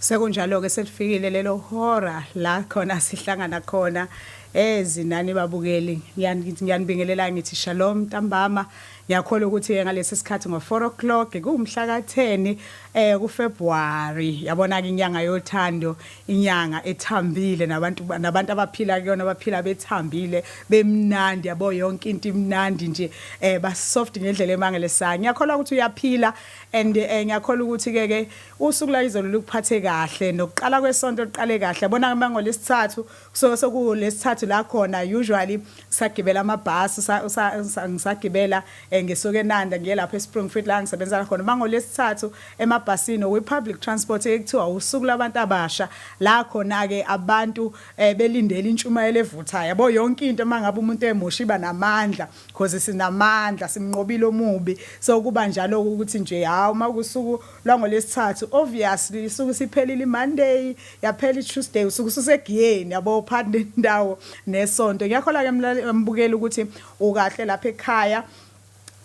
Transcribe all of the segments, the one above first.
Sekunjalo-ke selifikile lelo hora la khona sihlangana khona ezinani eh, babukeli ngiyanibingelela ngithi shalom ntambama ngiyakholwa ukuthi-ke ngalesi sikhathi ngo-four o'clock kuwumhla ka-ten um eh, kufebruwari yabona-ke inyanga yothando inyanga ethambile nabantu nabantu abaphila kuyona abaphila bethambile bemnandi yabo yonke into imnandi nje eh ba soft ngendlela emangalisayo ngiyakholwa ukuthi uyaphila and eh, ngiyakholwa ukuthi ke ke usuku la izolo lukuphathe kahle nokuqala kwesonto liqale kahle yabona mangolesithathu so sokulesithathu la khona usually sagibela amabhasi ngisagibela eh, ngisuke enanda ngiye lapho espringfield la ngisebenzela khona uma ngolwesithathu emabhasini okwi-public transport ekuthiwa usuku labantu abasha la khona-ke abantu um belindele intshumayelo evuthayo yabo yonke into uma ngabe umuntu emusha iba namandla cause sinamandla simnqobile omubi so kuba njalo-ke ukuthi nje hhawu uma kusuku lwangolwesithathu obviously isuke isiphelile imonday yaphela ituesday usuke ususegiyeni yabo phakathi nendawo nesonto ngiyakhola ke mbukeli ukuthi ukahle lapha ekhaya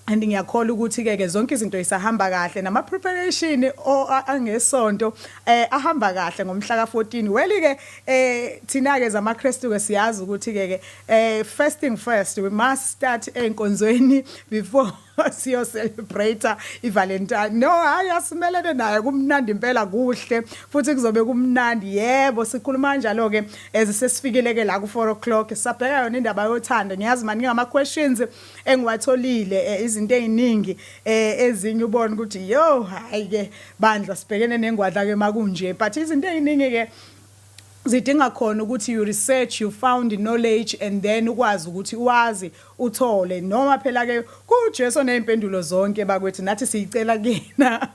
and ngiyakhola ukuthi ke ke zonke izinto isahamba kahle nama preparation angesonto eh ahamba kahle ngomhla ka 14 weli ke eh thina ke zama Christu ke siyazi ukuthi ke ke eh first thing first we must start enkonzweni before siyo celebrate ivalentine no hayi asimelene naye kumnandi impela kuhle futhi kuzobe kumnandi yebo sikhuluma kanjalo ke ezisesifikile ke la ku 4 o'clock sabheka yona indaba yothando ngiyazi mani ngama questions engiwatholile eh, izinto eziningi eh, ezinye ubona ukuthi yo hayi ke bandla sibhekene nengwadla ke makunje but izinto eziningi ke zidinga khona ukuthi you research you found knowledge and then ukwazi ukuthi wazi uthole noma phela ke kuJesu nezimpendulo zonke bakwethu nathi siyicela kina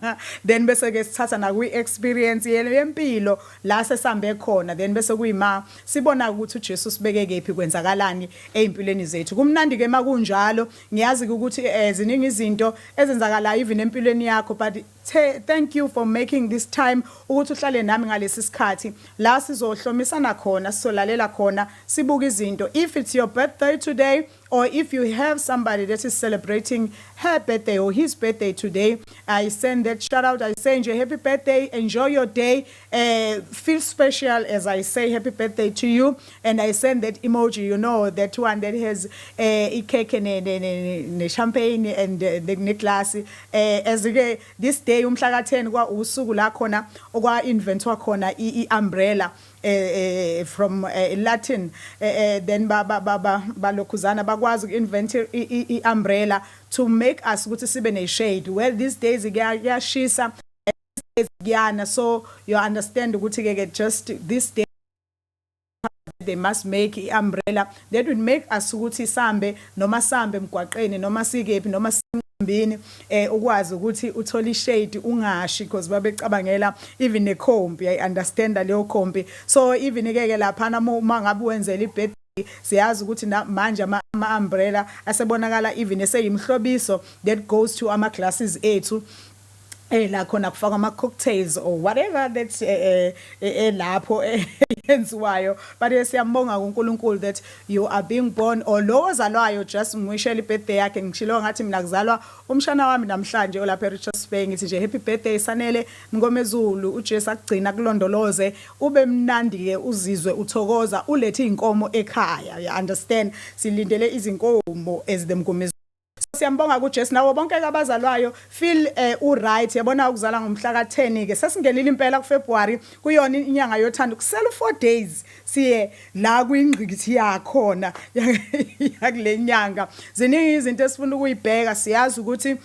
then bese ke sithatha na kwi experience yempilo la sesambe khona then bese kuyima sibona ukuthi uJesu sibeke kephi kwenzakalani ezimpilweni zethu kumnandi ke makunjalo ngiyazi ukuthi eh, ziningi izinto ezenzakalayo even empilweni yakho but The, thank you for making this time ukuthi uhlale nami ngalesi sikhathi la sizohlomisana khona sizolalela khona sibuka izinto if it's your birthday today or if you have somebody that is celebrating her birthday or his birthday today i send that shout out i say nje happy birthday enjoy your day uh, feel special as I say happy birthday to you and I send that emoji you know that one that has uh, a cake and a champagne and uh, the necklace uh, as ke this day umhla ka 10 kwa usuku la khona okwa inventwa khona i umbrella uh, uh, from uh, Latin uh, uh, then ba ba ba ba balokhuzana bakwazi uku-invent i-umbrella to make us ukuthi sibe ne-shade well these days kuyashisa days kuyana so you understand ukuthi ke ke just this day they must make i-umbrella that would make us ukuthi sambe noma sambe emgwaqeni noma sikephi noma simbini eh ukwazi ukuthi uthole ishade ungashi because babecabangela even nekhompi i understand leyo khompi so even ke ke lapha na uma ngabe wenzela ibed siyazi ukuthi manje ama-umbrella asebonakala even eseyimhlobiso that goes to ama-glasses ethu eh la khona kufakwa ama cocktails or whatever that eh, eh, eh, eh lapho yenziwayo but siyambonga kuNkulunkulu that you are being born or lo ozalwayo just ngwishela ibirthday yakhe ngishilo ngathi mina kuzalwa umshana wami namhlanje olapha eRichards Bay ngithi nje happy birthday sanele Nkomezulu uJesu akugcina kulondoloze ube mnandi ke uzizwe uthokoza ulethe inkomo ekhaya you understand silindele izinkomo as the Nkomezulu Siyambonga kuJesu nawo bonke abazalwayo feel eh, u right yabona ukuzala ngomhla ka 10 ke sesingenile impela ku February kuyona inyanga yothando kusela 4 days siye la kwingqikithi yakhona yakulenyanga ziningi izinto esifuna ukuyibheka siyazi ukuthi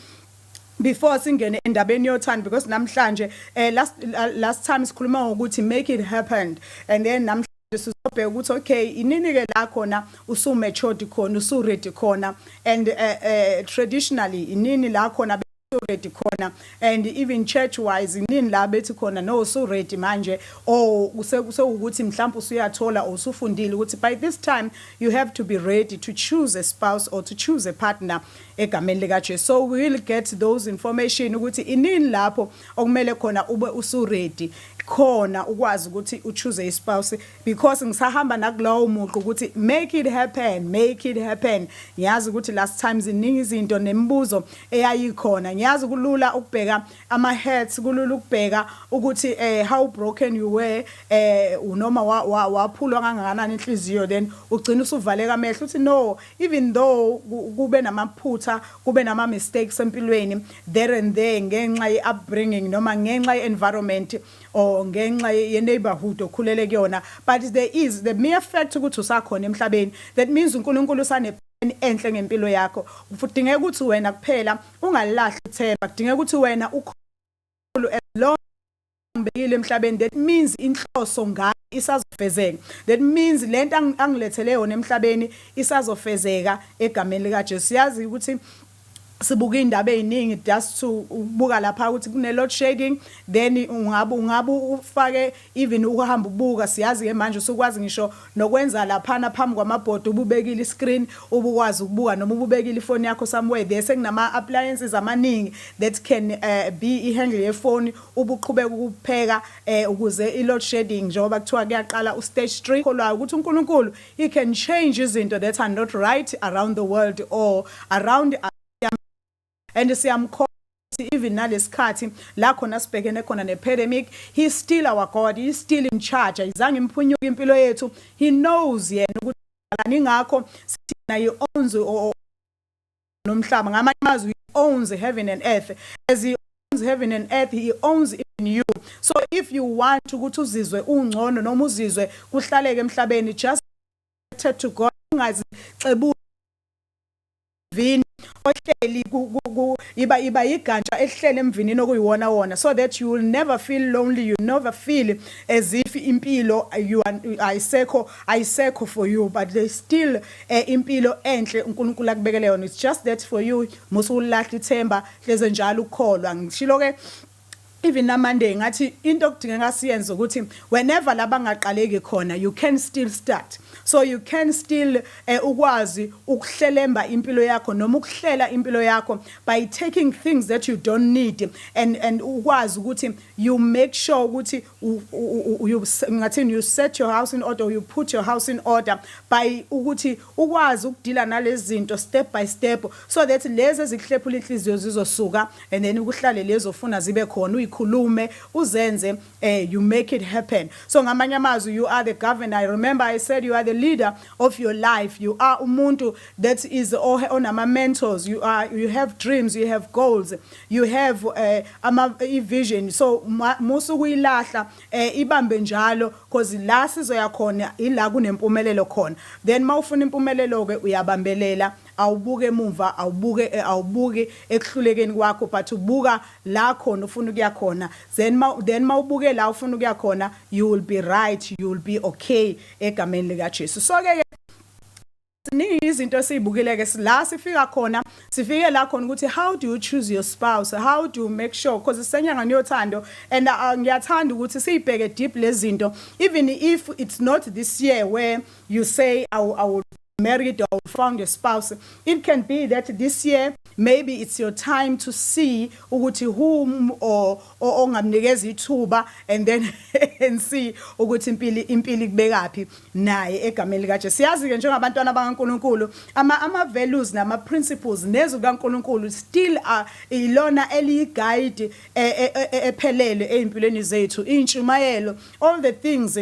before singene endabeni yothando because namhlanje eh last last time sikhuluma ngokuthi make it happened and then namhlanje sizobheka ukuthi okay inini ke la khona usu matured khona usu ready khona and uh, uh, traditionally inini la khona ready khona and even church wise inini la bethi khona no usu ready manje or usekuthi mhlawumbe usuyathola usufundile ukuthi by this time you have to be ready to choose a spouse or to choose a partner egameni lika Jesu so we will get those information ukuthi inini lapho okumele khona ube usuredi khona ukwazi ukuthi uchoose ispouse because ngisahamba nakulowo muqo ukuthi make it happen make it happen ngiyazi ukuthi last time ziningi izinto nemibuzo eyayikhona ngiyazi kulula ukubheka ama hats kulula ukubheka ukuthi eh how broken you were eh unoma waphulwa kangakanani inhliziyo then ugcina usuvaleka amehlo uthi no even though kube namaphutha kube nama mistakes empilweni there and there ngenxa ye upbringing noma ngenxa ye environment or ngenxa ye neighborhood okhulele kuyona but there is the mere fact ukuthi usakhona emhlabeni that means uNkulunkulu usane enhle ngempilo yakho kudingeka ukuthi wena kuphela ungalahli ithemba kudingeka ukuthi wena ukhulu as long ngibekile emhlabeni that means inhloso ngami isazofezeka that means lento angilethele yona emhlabeni isazofezeka egameni lika Jesu yazi ukuthi sibuka indaba eziningi just to ubuka lapha ukuthi kune load shedding then ungabe ungabe ufake even ukuhamba ubuka siyazi ke manje usukwazi ngisho nokwenza laphana phambi kwamabhodi ububekile iscreen ubukwazi ukubuka noma ububekile ifoni yakho somewhere there sekunama appliances amaningi that can uh, be ihandle yefoni ubuqhubeka ukupheka uh, ukuze iload shedding njengoba kuthiwa kuyaqala ustage 3 kholwayo ukuthi uNkulunkulu he can change izinto that are not right around the world or around and siyamkho even nalesikhathi la khona sibhekene khona nepandemic he still our god he still in charge ayizange imphunyuke impilo yethu he knows yena ukuthi alani ngakho sina he owns nomhlaba ngamanye amazwi he owns heaven and earth as he owns heaven and earth he owns even you so if you want ukuthi uzizwe ungcono noma uzizwe kuhlaleke emhlabeni just to god ungazi xebu vini ohleli iba iba igantsha elihlele emvinini okuyiwona wona so that you will never feel lonely you never feel as if impilo you ayisekho ayisekho for you but they still eh, impilo enhle uNkulunkulu akubekele yona it's just that for you musu ulahla ithemba hleze njalo ukukholwa ngishilo ke Even na Monday ngathi into okudingeka siyenze ukuthi whenever la bangaqaleki khona you can still start. So you can still eh, ukwazi ukuhlelemba impilo yakho noma ukuhlela impilo yakho by taking things that you don't need and and ukwazi ukuthi you make sure ukuthi you ngathini you set your house in order you put your house in order by ukuthi ukwazi ukudila nalezinto step by step so that lezi ezikuhlephula inhliziyo zizosuka and then ukuhlale lezo funa zibe khona uyikhulume uzenze eh you make it happen so ngamanye amazwi you are the governor i remember i said you are the leader of your life you are umuntu that is onama mentors you are you have dreams you have goals you have eh, ama i-vision so ma- musa ukuyilahla eh, ibambe njalo cause la sizoya khona ila kunempumelelo khona then uma ufuna impumelelo-ke uyabambelela awubuke emuva awubuke eh, awubuki ekuhlulekeni kwakho but ubuka la khona ufuna ukuya khona then ma- then uma ubuke la ufuna ukuya khona you will be right you will be okay egameni likajesu so-ke ziningi izinto esiyibukile-ke la sifika khona sifike la khona ukuthi how do you choose your spouse how do you make sure because sisenyangani yothando and uh, ngiyathanda ukuthi siyibheke deep lezi zinto even if it's not this year where you say I, I will married or found a spouse it can be that this year maybe it's your time to see ukuthi whom or ongamnikeza ithuba and then and see ukuthi impilo impilo ikubekaphi naye egameni lika Jesu siyazi ke njengabantwana bakaNkuluNkulu ama ama values nama principles nezwi kaNkuluNkulu still are ilona eliyi guide e, e, e, ephelele ezimpilweni zethu intshumayelo all the things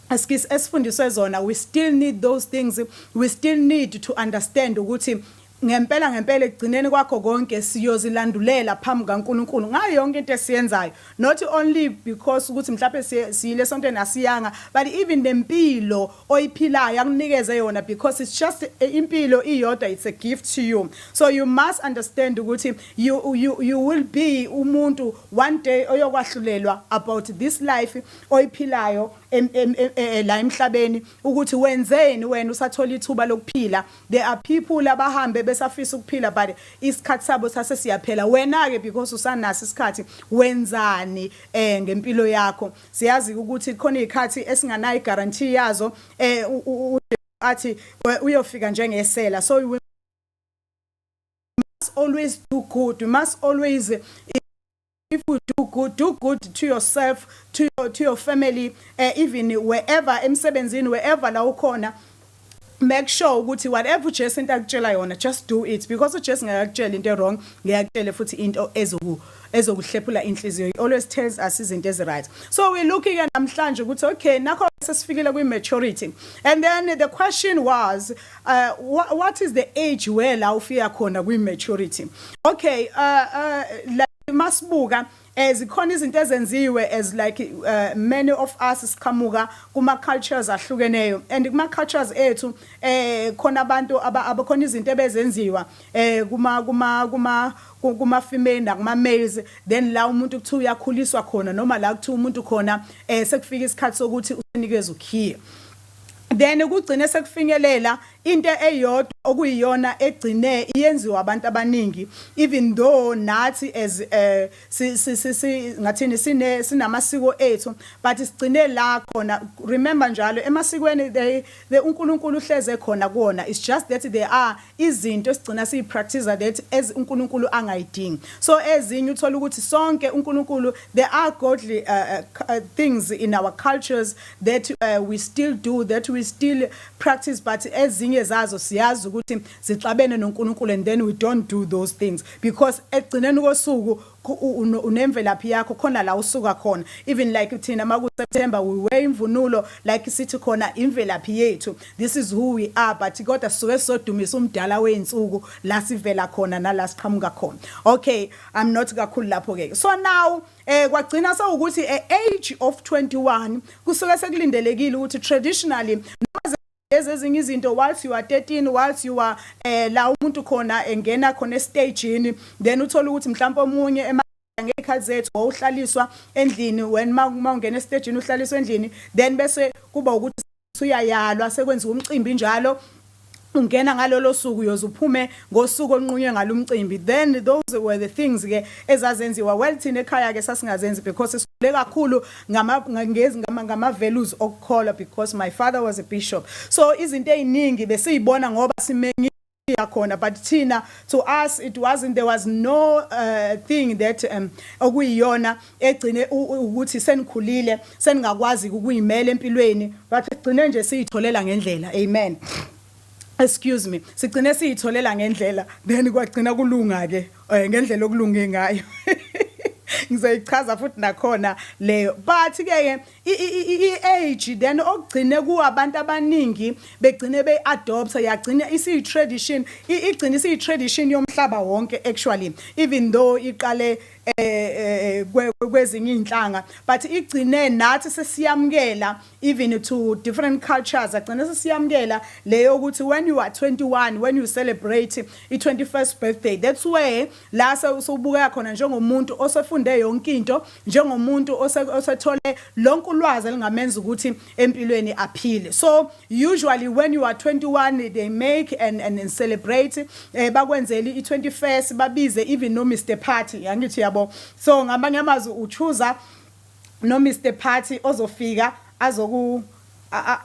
askisi esifundiswe zona we still need those things we still need to understand ukuthi Ngempela ngempela ekugcineni kwakho konke siyozilandulela phambi kaNkulunkulu ngayo yonke into esiyenzayo not only because ukuthi mhlawumbe siyile esontweni asiyanga but even nempilo oyiphilayo akunikeze yona because it's just eh, impilo iyodwa it's a gift to you so you must understand ukuthi you, you, you will be umuntu one day oyokwahlulelwa about this life oyiphilayo eh, eh, la emhlabeni ukuthi wenzeni wena usathola ithuba lokuphila There are people abahambe besafisa ukuphila but isikhathi sabo sase siyaphela. Wena ke because usanaso isikhathi wenzani eh ngempilo yakho. Siyazi ukuthi khona izikhathi esinganayo guarantee yazo eh athi uyofika njengesela. So we must always do good. We must always if you do good do good to yourself to your, to your family uh, even wherever emsebenzini wherever la ukhona make sure ukuthi whatever uJesu into akutshela yona just do it because uJesu ngakakutshela into wrong ngiyakutshela futhi into ezoku ezokuhlephula inhliziyo he always tells us izinto ezi right so we looking at namhlanje ukuthi okay nakho sesifikile kwi maturity and then the question was Uh, wha what is the age where la ufika khona kwi maturity okay uh, uh, like masibuka eh zikhona izinto ezenziwe as like uh, many of us siqhamuka kuma cultures ahlukeneyo and kuma cultures ethu eh khona abantu abakhona izinto ebezenziwa eh kuma kuma kuma kuma female nakuma males then la umuntu kuthiwa uyakhuliswa khona noma la kuthiwa umuntu khona eh sekufika isikhathi sokuthi usinikezwe ukhiye then kugcine sekufinyelela into eyodwa okuyiyona egcine iyenziwa abantu abaningi even though nathi as eh si ngathini sine sinamasiko ethu but sigcine la khona remember njalo emasikweni they the uNkulunkulu uhleze khona kuona it's just that there are izinto esigcina siyi practice that as uNkulunkulu angayidingi so ezinye uthola ukuthi sonke uNkulunkulu there are godly uh, uh, things in our cultures that uh, we still do that we still practice but ezinye zazo siyazi ukuthi zixabene noNkulunkulu and then we don't do those things because ekugcineni kosuku unemvelaphi yakho khona la usuka khona even like thina maku September we wear imvunulo like sithi khona imvelaphi yethu this is who we are but kodwa sisuke sodumisa umdala weinsuku la sivela khona nala siqhamuka khona okay i'm not kakhulu lapho ke so now eh kwagcina sewukuthi e age of 21 kusuke sekulindelekile ukuthi traditionally noma lezi ezinye izinto whilst you are 13 whilst you are eh la umuntu khona engena khona estagini then uthola ukuthi mhlawumbe omunye ngey'khathi zethu wawuhlaliswa endlini wena uma ungena esitejini uhlaliswa endlini then bese kuba ukuthi Usuyayalwa sekwenziwa umcimbi njalo ungena ngalolo suku uyoze uphume ngosuku olunqunywe ngalo umcimbi then those were the things ke ezazenziwa well thina ekhaya ke sasingazenzi because sikhule kakhulu ngama ngezi ngama ngama values okukholwa because my father was a bishop so izinto eziningi besizibona ngoba simengi yakhona but thina to us it wasn't there was no uh, thing that um, okuyiyona egcine ukuthi senikhulile seningakwazi ukuyimela empilweni but sigcine nje siyitholela ngendlela amen excuse me sigcine siyitholela ngendlela then kwagcina kulunga ke eh, ngendlela okulunge ngayo ngizoyichaza futhi nakhona leyo but ke i-age then okugcine kuwabantu abaningi begcine beyi-adoptha yagcina isiyi-tradition igcine isiyi-tradition yomhlaba wonke actually even though iqale eh, eh, eh kwezinye iy'nhlanga but igcine nathi sesiyamukela even to different cultures agcine sesiyamukela leyo ukuthi when you are 21 when you celebrate i-21st birthday that's where La sewusubukeka khona njengomuntu osefunde yonke into, njengomuntu osethole lonke ulwazi elingamenza ukuthi empilweni aphile. So usually when you are 21 they make and and, and celebrate eh bakwenzeli i21st babize even no Mr Party yangithi yabo. So ngamanye amazwi uchuza no Mr Party ozofika azoku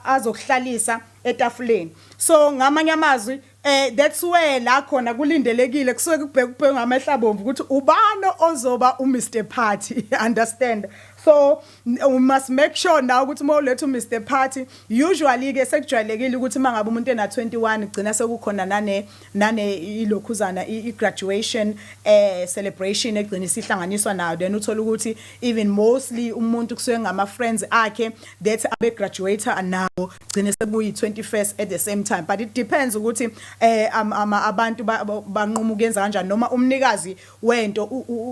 azokuhlalisa etafuleni. So ngamanye amazwi Eh that's where la khona kulindelekile kusuke kubheka ubheka ngamehla abomvu ukuthi ubani ozoba u Mr Party understand so we must make sure now ukuthi uma uletha u Mr Party usually ke sekujwayelekile ukuthi mangabe umuntu ena 21 gcina sekukhona nane nane ilokhuzana i graduation eh celebration egcina isihlanganiswa nayo then uthola ukuthi even mostly umuntu kusuke ngama friends akhe that abe graduator nawo gcine sekuyi 21st at the same time but it depends ukuthi eh ama abantu banquma ukuyenza kanjani noma umnikazi wento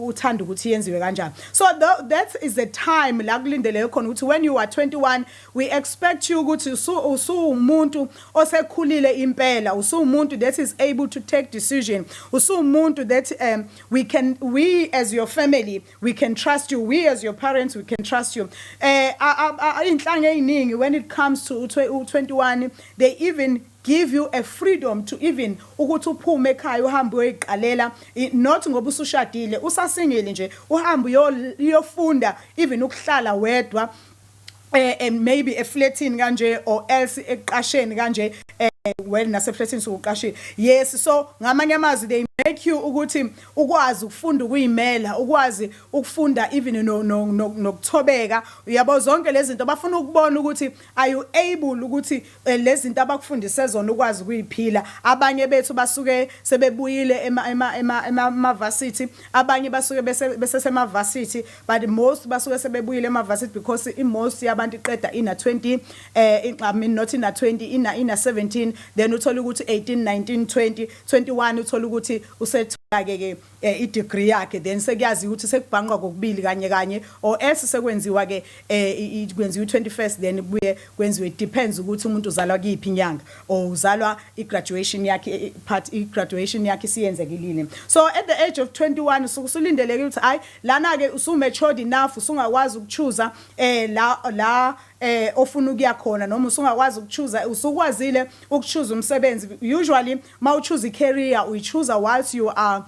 uthanda ukuthi yenziwe kanjani so that is the time la kulindele khona ukuthi when you are 21 we expect you ukuthi usuwumuntu osekhulile impela usuwumuntu that is able to take decision usuwumuntu that um we can we as your family we can trust you we as your parents we can trust you eh inhlanga eziningi when it comes to 21 they even give you a freedom to even ukuthi uphume ekhaya uhambe uyoyiqalela not ngoba usushadile usasingile nje uhambe uyofunda even ukuhlala wedwa eh, and maybe efletini kanje or else ekuqasheni kanje eh, well nasefletini sokuqashile yes so ngamanye amazwi they make you ukuthi ukwazi ukufunda ukuyimela ukwazi ukufunda even nokuthobeka uyabo zonke lezi zinto bafuna ukubona ukuthi are you able ukuthi Eh, lezinto abakufundise zona ukwazi ukuyiphila abanye bethu basuke sebebuyile ema ema ema emavasithi abanye basuke besesemavasithi but most basuke sebebuyile emavasithi because imost yabantu iqeda ina 20 eh I mean not ina 20 ina ina 17 then uthola ukuthi 18 19 20 21 uthola ukuthi usethola ke ke eh, i-degree yakhe then sekuyaziwa ukuthi sekubhanqwa kokubili kanye kanye or else sekwenziwa ke eh, i- i- kwenziwa i-21st then kubuye kwenziwe it depends ukuthi umuntu uzalwa kuyiphi inyanga or uzalwa i-graduation yakhe eh, eh, part i-graduation yakhe isiyenzekilile so at the age of 21 usuke usulindeleke ukuthi hayi lana ke usu-matured enough usungakwazi ukuchuza eh la la eh ofuna ukuya khona noma usungakwazi ukuchuza usukwazile ukuchuza umsebenzi usually Uma uchoose i-career uyichooser whilst you are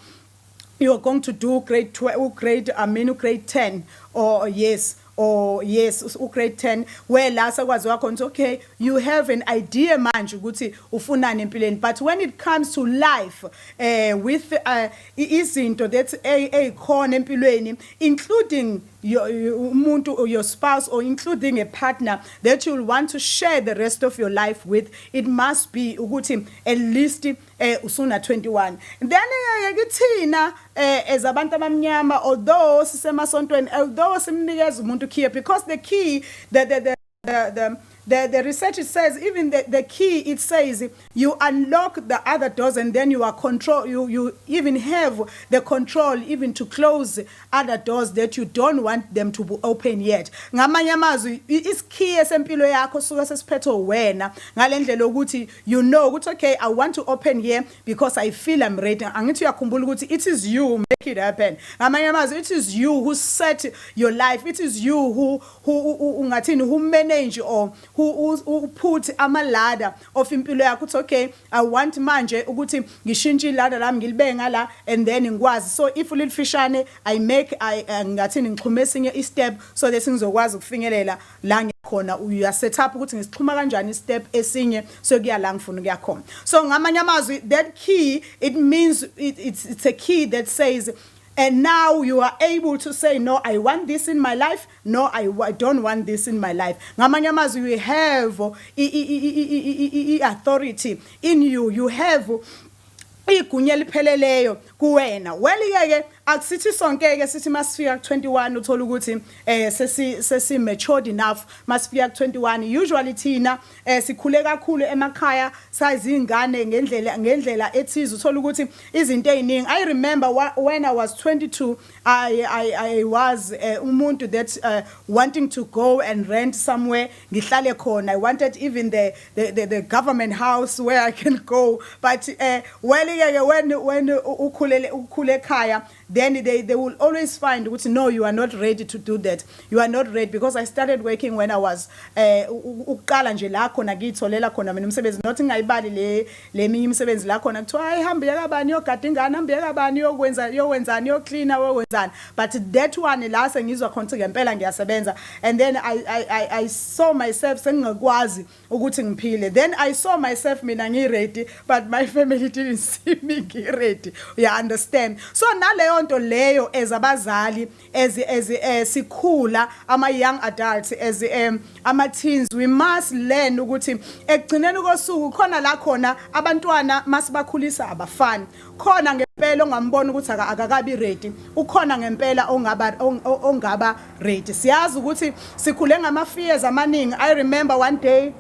you're going to do grade ugrade I mean ugrade 10 or yes or yes ugrade 10 where la sekwaziwa khona okay you have an idea manje ukuthi ufunani empilweni but when it comes to life uh, with uh, izinto that ezikhona empilweni including your, umuntu or your spouse or including a partner that you'll want to share the rest of your life with it must be ukuthi at least eh usuna 21 then eh, ke kithina eh as abantu abamnyama although sisemasontweni although simnikeza umuntu key because the key the the, the the, the, the, the research it says even the, the key it says you unlock the other doors and then you are control you, you even have the control even to close other doors that you don't want them to be open yet ngamanye amazwi isikhiye sempilo yakho suka sesiphethe wena ngale ndlela yokuthi you know ukuthi okay i want to open here because i feel i'm ready angithi uyakhumbula ukuthi it is you make it happen ngamanye amazwi it is you who set your life it is you who ungathini who manage or who u put ama ladder of impilo yakho uthi okay i want manje ukuthi ngishintshe iladder lami ngilibenga la and then ngikwazi so if ulifishane i make i eh, ngathini ngixhume esinye i step so that ngizokwazi ukufinyelela la khona uya set up ukuthi ngisixhuma kanjani step esinye so kuya la ngifuna ukuya khona so ngamanye amazwi that key it means it, it's, it's a key that says and now you are able to say no i want this in my life no i, I don't want this in my life ngamanye amazwi you have i-authority in you you have igunya elipheleleyo kuwena welike-ke akusithi sonke-ke sithi masifika ku-21 uthole ukuthi um sesi-matured enough masifika ku-21 usually thina eh sikhule kakhulu emakhaya sayizingane ngendlela ngendlela ethize uthola ukuthi izinto eziningi i remember when i was 22 i i i was uh, umuntu that uh, wanting to go and rent somewhere ngihlale khona i wanted even the the the, the government house where i can go but uh, well yeke when when ukhulele ukhule ekhaya then they, they will always find ukuthi no you are not ready to do that you are not ready because i started working when i was eh, u- u- ukuqala nje la khona ngiyitholela khona mina umsebenzi not ngingayibali le le minye imisebenzi la khona kuthiwa hayi hamba uye kabani yogada ingane hamba uye kabani yokwenza yokwenzani yoklina yokwenzani but that one la sengizwa khona ukuthi ngempela ngiyasebenza and then I, I, I, i saw myself sengingakwazi ukuthi ngiphile then i saw myself mina ngiready but my family didn't see me ngiready you understand so naleyo nto leyo as abazali as as eh, sikhula ama young adults as um, ama teens we must learn ukuthi ekugcineni kosuku khona la khona abantwana masibakhulisa abafani khona ngempela ongambona ukuthi akakabi ready ukhona ngempela ongaba ongaba ready siyazi ukuthi sikhule ngama fears amaningi i remember one day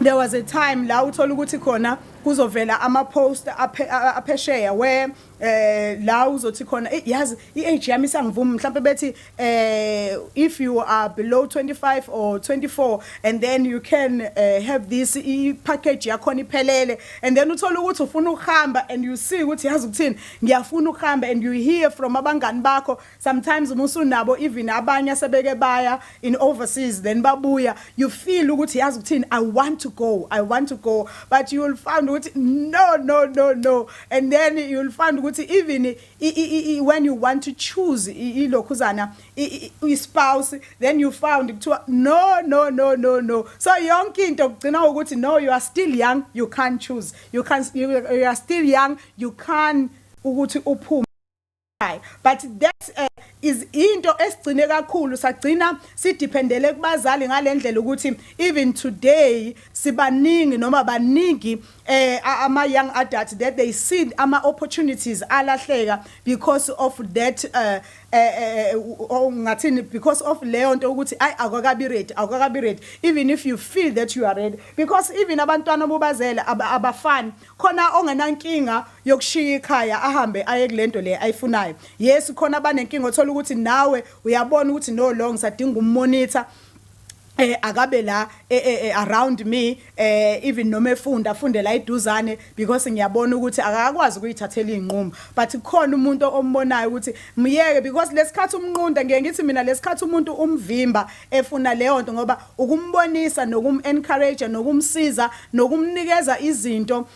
there was a time la uthola ukuthi khona kuzovela ama post aphesheya where eh la uzothi khona yazi i age yami isangivuma mhlawumbe bethi uh, if you are below 25 or 24 and then you can uh, have this i-package yakhona iphelele and then uthole ukuthi ufuna ukuhamba and you see ukuthi yazi ukuthini ngiyafuna ukuhamba and you hear from abangani bakho sometimes uma usunabo even abanye asebeke baya in overseas then babuya you feel ukuthi yazi ukuthini i want to go i want to go but you will find ukuthi no no no no and then you will find ukuthi even when you want to choose ilokhuzana ispouse then you found kuthiwa no no no no no so yonke into kugcina ukuthi no you are still young you can't choose you can you, you are still young you can ukuthi uphume but that uh, is into esigcine kakhulu sagcina sidependele kubazali ngalendlela ukuthi even today sibaningi noma baningi eh ama young adults that they see ama opportunities alahleka because of that uh, eh ngathini because of leyo nto ukuthi ay akwakabi ready akwakabi ready even if you feel that you are ready because even abantwana obubazele abafani khona ongenankinga yokushiya ikhaya ahambe aye kulento le ayifunayo yes khona abanenkinga othola ukuthi nawe uyabona ukuthi no long sadinga ummonitor eh akabe la eh, eh, eh, around me eh even noma efunda afunde la iduzane because ngiyabona ukuthi akakwazi ukuyithathela inqumo but kukhona umuntu ombonayo ukuthi myeke because lesikhathi umnqunda ngeke ngithi mina lesikhathi umuntu umvimba efuna leyo nto ngoba ukumbonisa nokum encourage nokumsiza nokumnikeza izinto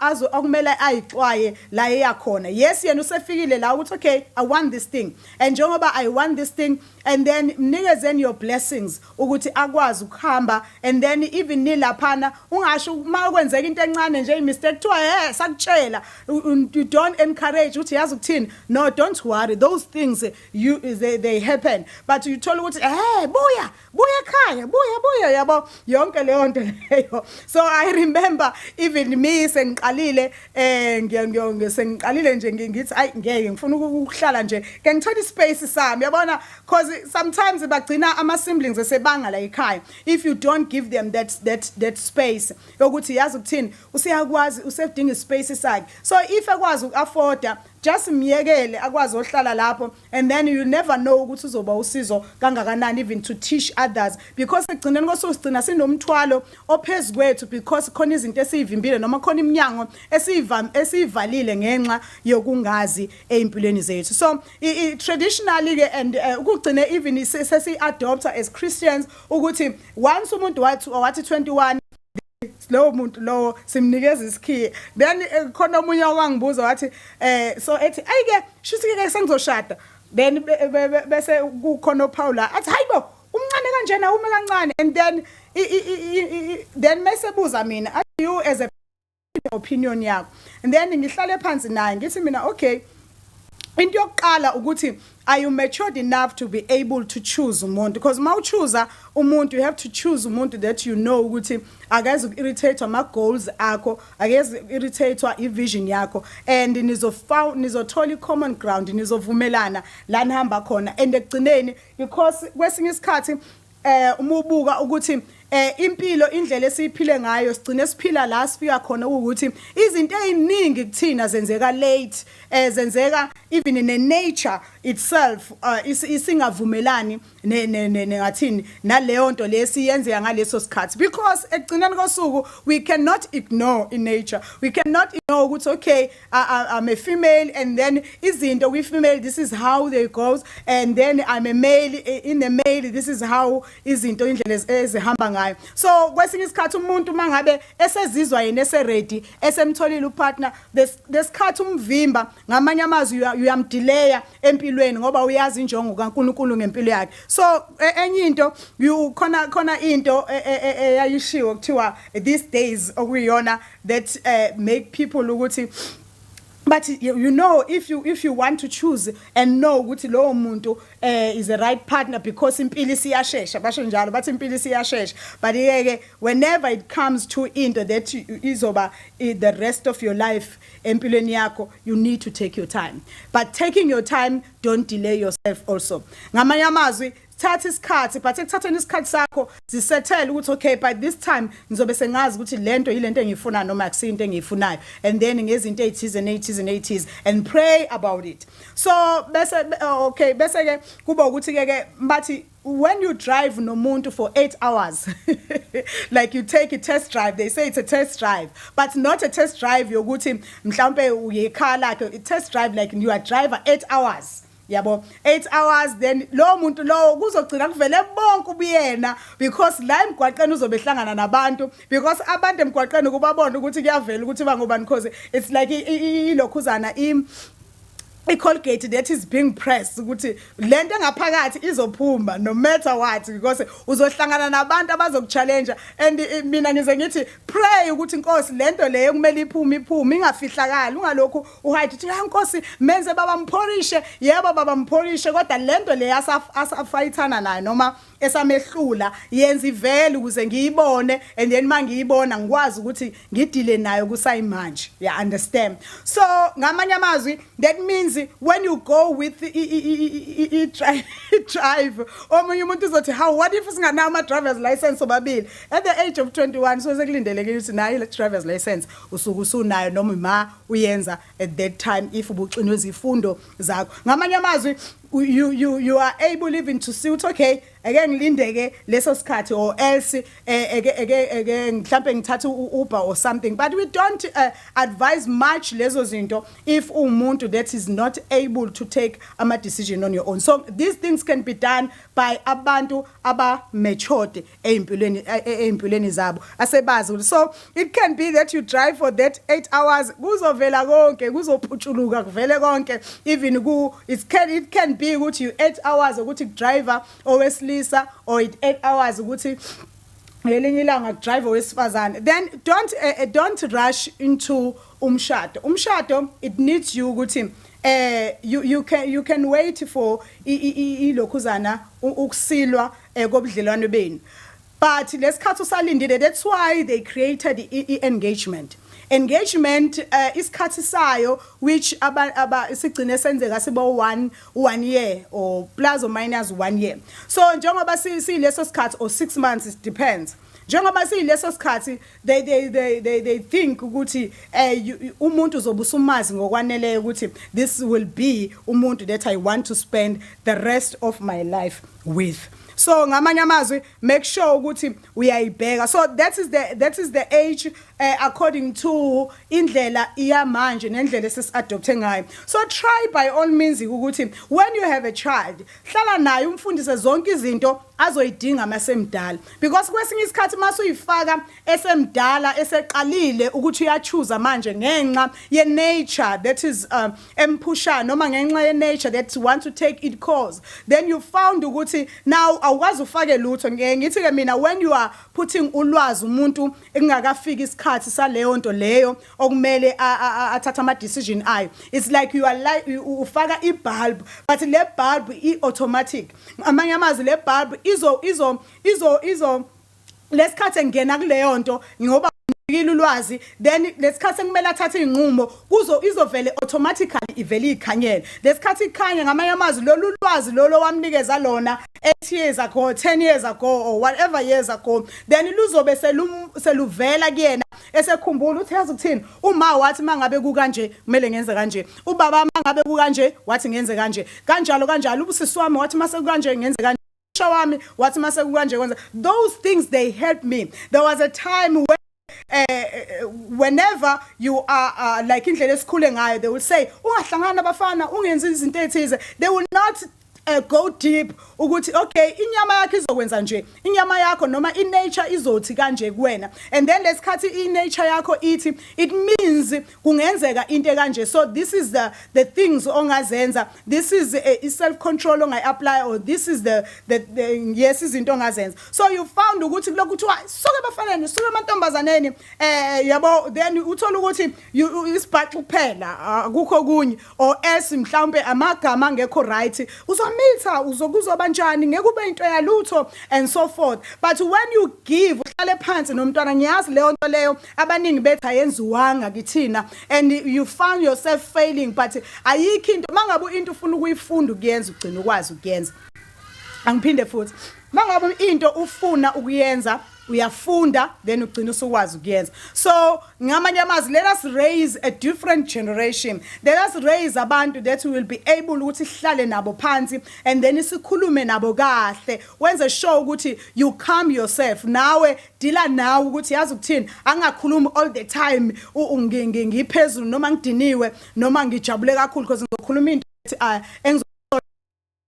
azo okumele ayixwaye la eyakhona yes yena usefikile la ukuthi okay i want this thing and njengoba i want this thing and then mnikezeni your blessings ukuthi akwazi ukuhamba and then even nilaphana ungasho uma ukwenzeka into encane nje imistake kuthiwa he sakutshela you don't encourage ukuthi yazi ukuthini no don't worry those things you they, they happen but you thola ukuthi eh buya buya ekhaya buya buya yabo yonke leyo nto leyo so i remember even me sengiqalile eh ngiyangiyo sengiqalile nje ngithi ay ngeke ngifuna ukuhlala nje ke ngithola ispace sami yabona because sometimes bagcina ama siblings esebanga la ekhaya if you don't give them that that that space yokuthi yazi ukuthini useyakwazi usedinga ispace sakhe so if ekwazi ukuafforda just myekele akwazi ohlala lapho and then you never know ukuthi uzoba usizo kangakanani even to teach others because ekugcineni kosuku sigcina sinomthwalo ophezu kwethu because khona izinto esiyivimbile noma khona iminyango esiyivalile ngenxa yokungazi ezimpilweni zethu so traditionally ke and eh, ukugcine even sesi adopter as Christians ukuthi once umuntu wathi wathi 21 lowo muntu lowo simnikeza isikhiye then eh, khona omunye owangibuza wathi eh so ethi ayike shuthi ke sengizoshada then bese kukhona ophawula athi hayibo umncane kanjena ume kancane and then then mesebuza mina athi you as a opinion yakho and then ngihlale phansi naye ngithi mina okay into yokuqala ukuthi are you matured enough to be able to choose umuntu because uma uchuza umuntu you have to choose umuntu that you know ukuthi akeze uku-irritate ama-goals akho akeze uku-irritate i-vision yakho and nizothola i-common ground nizovumelana la nihamba khona and ekugcineni because kwesinye isikhathi eh uma ubuka ukuthi eh impilo indlela esiphile ngayo sigcine siphila la sifika khona ukuthi izinto eziningi kuthina zenzeka late eh zenzeka even in the nature itself uh, isingavumelani ne ne ne ngathini naleyo nto lesi yenzeka ngaleso sikhathi because ekugcineni kosuku we cannot ignore in nature we cannot ignore ukuthi okay I, I'm a female and then izinto kwi female this is how they goes and then I'm a male eh, in the male this is how izinto indlela ezihamba ngayo so kwesinye isikhathi umuntu mangabe esezizwa yena ese ready esemtholile upartner lesikhathi umvimba ngamanye amazwi uyamdelaya empilweni ngoba uyazi injongo kaNkuluNkulu ngempilo yakhe so e, enye into khona khona into e, e, eyayishiwo kuthiwa these days okuyiyona that uh, make people ukuthi but you, you know if you if you want to choose and know ukuthi lowo muntu eh is the right partner because impilo isiyashesha basho njalo bathi impilo isiyashesha but yeke whenever it comes to into that izoba the rest of your life empilweni yakho you need to take your time but taking your time don't delay yourself also ngamanye amazwi thatha isikhathi but ekuthatheni isikhathi sakho zisethele ukuthi okay by this time ngizobe sengazi ukuthi lento yilento engiyifuna noma akusinto engiyifunayo and then ngezinto ezithize nezithize nezithize and pray about it so bese okay bese ke kuba ukuthi ke ke bathi when you drive nomuntu for 8 hours like you take a test drive they say it's a test drive but not a test drive yokuthi mhlawumbe uyekhaya lakhe a test drive like you are driver 8 hours yabo 8 hours then lowo muntu lowo kuzogcina kuvele bonke ubuyena because la emgwaqeni uzobe hlangana nabantu because abantu emgwaqeni kubabona ukuthi kuyavela ukuthi bangobani cause it's like ilokhuzana i icolgate that is being pressed ukuthi lento engaphakathi izophuma no matter what because uzohlangana nabantu abazokuchallenge and eh, mina ngize ngithi pray ukuthi inkosi lento leyo kumele iphume iphume ingafihlakala ungalokhu uHayde uthi hayi nkosi menze baba mphorishe yebo baba mphorishe kodwa lento le asafayithana nayo noma esamehlula yenza ivele ukuze ngiyibone and then mangiyibona ngikwazi ukuthi ngidile nayo kusayimanje ya yeah, understand so ngamanye amazwi that means when you go with i drive omunye umuntu uzothi how what if singanayo ama driver's license obabili at the age of 21 so sekulindelekile ukuthi nayo le driver's license usuku usunayo noma ma uyenza at that time if ubuxinwe izifundo zakho ngamanye amazwi you, you, you are able even to see ukuthi okay eke ngilindeke leso sikhathi or else eh, eke eke eke mhlambe ngithathe uber or something but we don't uh, advise much lezo zinto if umuntu that is not able to take ama decision on your own so these things can be done by abantu aba matured ezimpilweni ezimpilweni zabo asebazi ukuthi so it can be that you drive for that 8 hours kuzovela konke kuzophutshuluka kuvele konke even ku it can it can be ukuthi you 8 hours ukuthi driver owesilisa or 8 hours ukuthi ngelinye ilanga driver wesifazane then don't uh, don't rush into umshado umshado it needs you ukuthi eh you you can you can wait for ilokhuzana ukusilwa eh, kobudlelwane benu but lesikhathi usalindile that's why they created i-engagement e, e engagement uh, isikhathi sayo which aba, aba sigcine senzeka sibo 1 1 year or plus or minus 1 year so njengoba siyileso sikhathi or 6 months it depends njengoba siyileso sikhathi they they they they they think ukuthi eh umuntu uzobe usumazi ngokwaneleyo ukuthi this will be umuntu that i want to spend the rest of my life with so ngamanye amazwi make sure ukuthi uyayibheka so that is the that is the age uh, according to indlela iyamanje nendlela esesiadopthe ngayo so try by all means ukuthi when you have a child hlala naye umfundise zonke izinto azoyidinga masemdala because kwesinye isikhathi masuyifaka esemdala eseqalile ukuthi uyachuza manje ngenxa ye nature that is um, emphushana noma ngenxa ye nature that want to take it cause then you found ukuthi now awukwazi ufake lutho ngeke ngithi ke mina when you are putting ulwazi umuntu ekungakafiki isikhathi saleyo nto leyo okumele athatha ama decision ayo it's like you are like ufaka i bulb but le bulb i automatic Ngamanye amazwi le bulb izo izo izo izo lesikhathi engena kuleyo nto ngoba ngikile ulwazi then lesikhathi kumele athathe izinqumo kuzo izovele automatically ivele ikhanyele lesikhathi ikhanya ngamanye amazwi lolu lwazi lolo wamnikeza lona 8 years ago 10 years ago or whatever years ago then luzobe seluvela kuyena esekhumbula uthi yazi ukuthini uma wathi mangabe kukanje kumele ngenze kanje ubaba mangabe kukanje wathi ngenze kanje kanjalo kanjalo ubusisi wami wathi mase kukanje ngenze kanje usha wami wathi mase kukanje kwenza those things they help me there was a time when uh, whenever you are uh, like indlela esikhule ngayo they will say ungahlangana abafana ungenzi izinto ethize they will not uh, go deep ukuthi okay inyama yakho izokwenza nje inyama yakho noma inature izothi kanje kuwena and then lesikhathi inature yakho ithi it means kungenzeka into ekanje so this is the the things ongazenza this is a, self control ongayi apply or this is the the, the yes izinto ongazenza so you found ukuthi kulokhu kuthiwa suke bafaneni suke amantombazaneni eh yabo then uthola ukuthi isibhaxu kuphela akukho kunye or else mhlawumbe amagama angekho right uzomitha uzokuzoba njani ngeke ube into yalutho and so forth but when you give uhlale phansi nomntwana ngiyazi leyo nto leyo abaningi bethi ayenziwanga kithina and you found yourself failing but ayikho into mangabe into ufuna ukuyifunda ukuyenza ugcina ukwazi ukuyenza angiphinde futhi mangabe into ufuna ukuyenza uyafunda then ugcina usukwazi ukuyenza so ngamanye amazwi let us raise a different generation let us raise abantu that we will be able ukuthi sihlale nabo phansi and then sikhulume nabo kahle wenze sure ukuthi you calm yourself nawe dila nawe ukuthi yazi ukuthini angakhulumi all the time ngiphezulu noma ngidiniwe noma ngijabule kakhulu because ngizokhuluma into ethi ah, engizo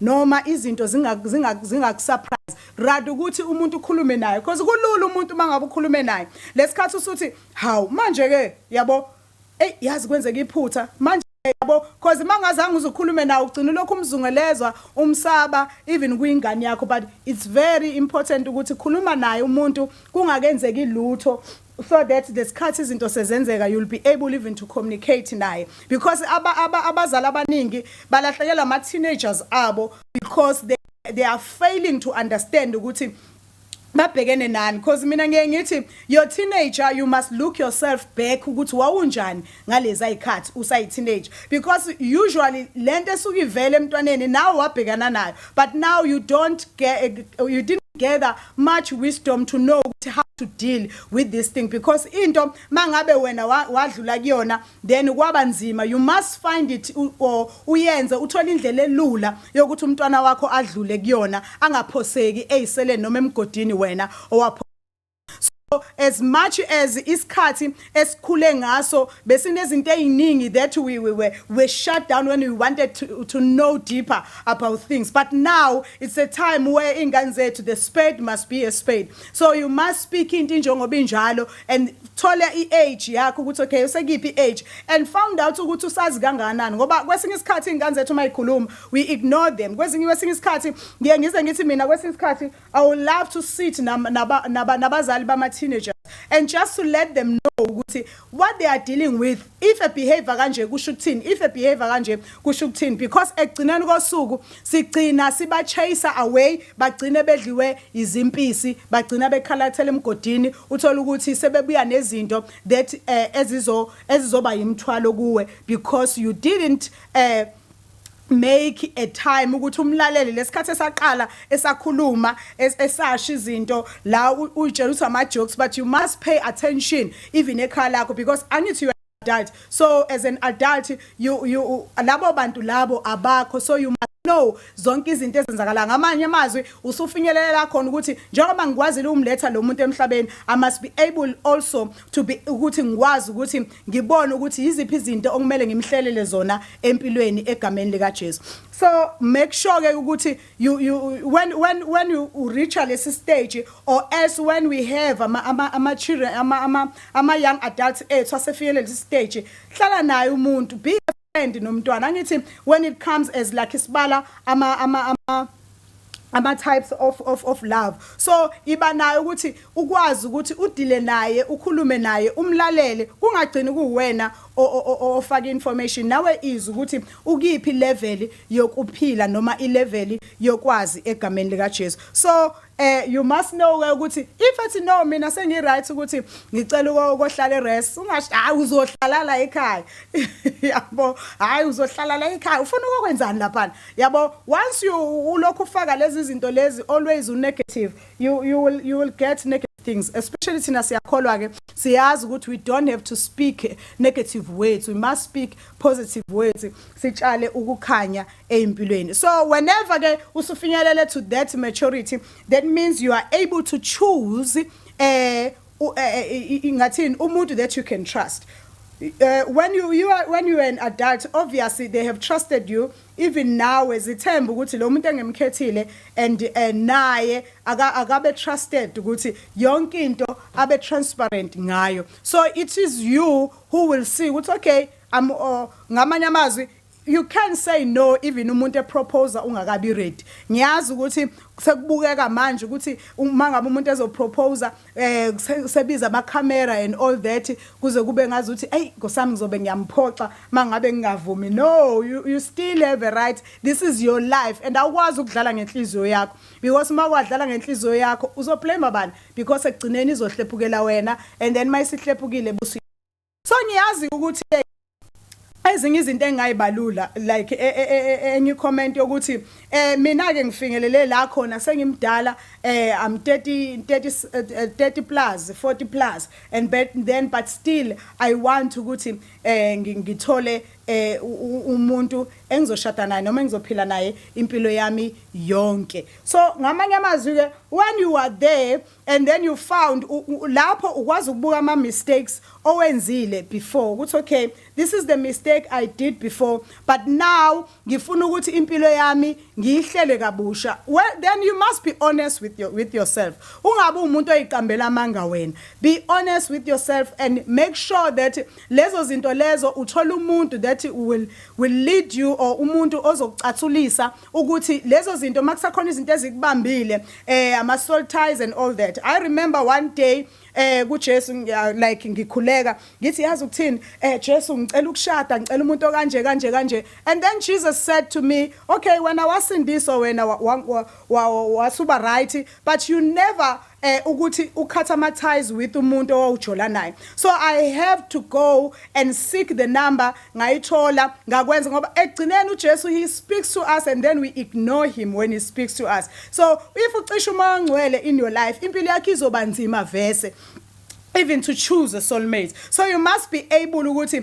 noma izinto zingakusurprise rather ukuthi umuntu ukhulume naye because kulula umuntu uma ngabe ukhulume naye lesikhathi usuthi hawu manje ke yabo eyi yazi kwenzeka iphutha manje yabo because uma ngazange uzukhulume nawe ugcina lokhu umzungelezwa umsaba even kwingane yakho but it's very important ukuthi khuluma naye umuntu kungakenzeki lutho so that lesikhathi izinto sezenzeka you'll be able even to communicate naye because aba aba abazali abaningi balahlekelwa ama teenagers abo because they they are failing to understand ukuthi babhekene nani because mina ngiye ngithi your teenager you must look yourself back ukuthi wawunjani ngaleza ikhathi usayi teenage because usually lento esuke ivele emntwaneni nawe wabhekana nayo but now you don't get you didn't gather much wisdom to know how to deal with this thing because into mangabe wena wadlula kuyona then kwaba nzima you must find it or uyenze uthola indlela elula yokuthi umntwana wakho adlule kuyona angaphoseki eyisele noma emgodini wena owapho so as much as isikhathi esikhule ngaso besinezinto eziningi that we, we were we shut down when we wanted to, to know deeper about things but now it's a time where ingane zethu the spade must be a spade so you must speak into njengoba injalo and thole i-age yakho ukuthi okay usekiphi i-age and found out ukuthi usazi kangakanani ngoba kwesinye isikhathi iy'ngane zethu uma yikhuluma we ignore them kwesinye kwesinye isikhathi ngiye ngize ngithi mina kwesinye isikhathi I would love to sit nabazali bama-teenagers and just to let them know ukuthi what they are dealing with if a behavior kanje kusho ukuthini if a behavior kanje kusho ukuthini because ekugcineni kosuku sigcina siba-chase away bagcine bedliwe izimpisi bagcina bekhalathela emgodini uthole ukuthi sebebuya nezinto that um ezizoba yimthwalo kuwe because you didn't um make a time ukuthi umlalele lesikhathi esaqala esakhuluma esasha izinto la uyitshela ukuthi ama jokes but you must pay attention even ekhaya lakho because angithi you adult so as an adult you you labo bantu labo abakho so you must know zonke izinto ezenzakala ngamanye amazwi usufinyelela khona ukuthi njengoba ngikwazile umletha lo muntu emhlabeni i must be able also to be ukuthi ngikwazi ukuthi ngibone ukuthi yiziphi izinto okumele ngimhlelele zona empilweni egameni lika Jesu so make sure ke ukuthi you you when when when you reach lesi stage or as when we have ama ama, ama children ama ama, ama young adults ethu asefikele lesi stage hlala naye umuntu be and nomntwana angithi when it comes as like isibala ama ama ama ama types of of of love so iba nayo ukuthi ukwazi ukuthi udile naye ukhulume naye umlalele kungagcini kuwena ofaka information nawe izwe ukuthi ukiphi level yokuphila noma ilevel yokwazi egameni lika Jesu so eh you must know ke ukuthi if ethi no mina sengi right ukuthi ngicela ukohlala erest ungasho hayi uzohlala la ekhaya yabo hayi uzohlala la ekhaya ufuna ukwenzani lapha yabo once you ulokhu ufaka lezi zinto lezi always u negative you you will you will get negative things especially thina siyakholwa ke siyazi ukuthi we don't have to speak negative words we must speak positive words sitshale ukukhanya ezimpilweni so whenever ke usufinyelele to that maturity that means you are able to choose eh, eh, eh ingathini umuntu that you can trust Uh, when you you are when you are an adult obviously they have trusted you even now ezithemba ukuthi lo muntu engemkhethile and eh, naye akabe trusted ukuthi yonke into abe transparent ngayo so it is you who will see ukuthi okay am oh, ngamanye amazwi you can say no even umuntu eproposa ungakabi ready ngiyazi ukuthi sekubukeka manje ukuthi uma ngabe umuntu ezoproposa eh sebiza ama camera and all that kuze kube ngazi ukuthi hey ngosami ngizobe ngiyamphoxa mangabe ngingavumi no you, you still have a right this is your life and awukwazi ukudlala ngenhliziyo yakho because uma kwadlala ngenhliziyo yakho uzoblame abantu because ekugcineni izohlephukela wena and then mayisihlephukile busi so ngiyazi ukuthi ezinye izinto engayibalula like e, e, e, enye comment yokuthi eh mina ke ngifingelele la khona sengimdala eh I'm 30 30 30 plus 40 plus and but then but still I want ukuthi eh ngithole eh umuntu engizoshada naye noma engizophila naye impilo yami yonke so ngamanye amazwi-ke when you are there and then you found lapho ukwazi ukubuka ama-mistakes owenzile before ukuthi okay this is the mistake i did before but now ngifuna ukuthi impilo yami ngiyihlele kabusha well, then you must be honest with, your, with yourself ungabi umuntu oyiqambela amanga wena be honest with yourself and make sure that lezo zinto lezo uthola umuntu that will, will lead you or umuntu ozokucathulisa ukuthi lezo zinto makusakhona izinto ezikubambile eh ama soul ties and all that i remember one day eh kuJesu like ngikhuleka ngithi yazi ukuthini eh Jesu ngicela ukushada ngicela umuntu okanje kanje kanje and then Jesus said to me okay wena wasindiswa wena wasuba right but you never eh ukuthi ukhatha ama ties with umuntu owawujola naye so i have to go and seek the number ngayithola ngakwenza ngoba egcineni uJesu he speaks to us and then we ignore him when he speaks to us so if ucisha uma ngcwele in your life impilo yakhe izoba nzima vese even to choose a soulmate so you must be able ukuthi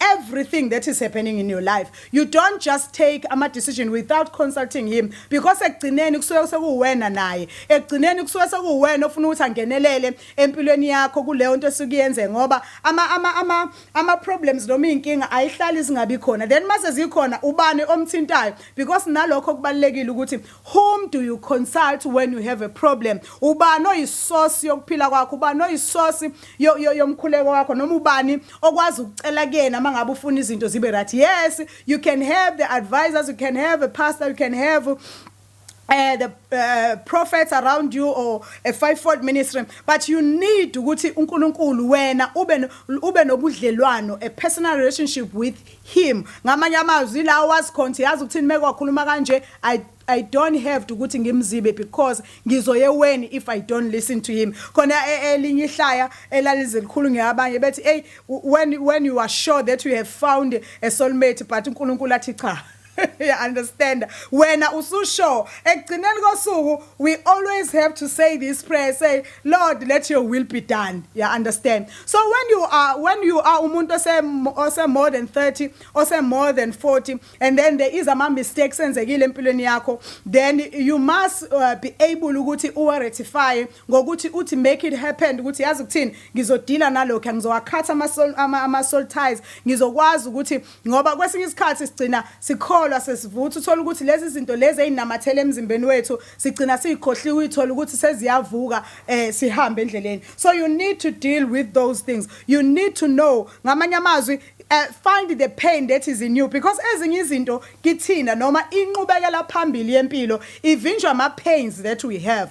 everything that is happening in your life you don't just take ama decision without consulting him because ekugcineni kusuke sekuwena naye ekugcineni kusuke sekuwena ofuna ukuthi angenelele empilweni yakho kuleyo nto esikuyenze ngoba ama ama ama ama problems noma inkinga ayihlali zingabi khona then mase zikhona ubani omthintayo because nalokho kubalekile ukuthi Whom do you consult when you have a problem? Ubani oyisosi yokuphila kwakho? Ubani oyisosi yomkhuleko wakho noma ubani okwazi ukucela kuyena uma ngabe ufuna izinto zibe right? Yes, you can have the advisors, you can have a pastor, you can have uh, the uh, prophets around you or a fivefold ministry but you need ukuthi uNkulunkulu wena ube ube nobudlelwano a personal relationship with him ngamanye amazwi la was conti yazi ukuthini mekwakhuluma kanje i I don't have to ukuthi ngimzibe because ngizoyeweni if I don't listen to him khona e, e, elinye ihlaya elalizilikhulu ngeabanye bethi hey when when you are sure that you have found a soulmate but uNkulunkulu athi cha ya understand wena ususure ekugcineni kosuku we always have to say this prayer say lord let your will be done ya understand so when you are when you are umuntu ose ose more than 30 ose more than 40 and then there is ama mistakes enzekile empilweni yakho then you must uh, be able ukuthi uwa rectify ngokuthi uthi make it happen ukuthi yazi ukuthini ngizodila nalokho ngizowakhatha ama ama soul ties ngizokwazi ukuthi ngoba kwesinye isikhathi sigcina sikholwa sesivutha uthola ukuthi lezi zinto lezi ezinamathele emzimbeni wethu sigcina sizikhohliwe ithola ukuthi seziyavuka eh sihambe endleleni so you need to deal with those things you need to know ngamanye amazwi uh, find the pain that is in you because ezinye izinto kithina noma inqubekela phambili yempilo ivinjwa ama pains that we have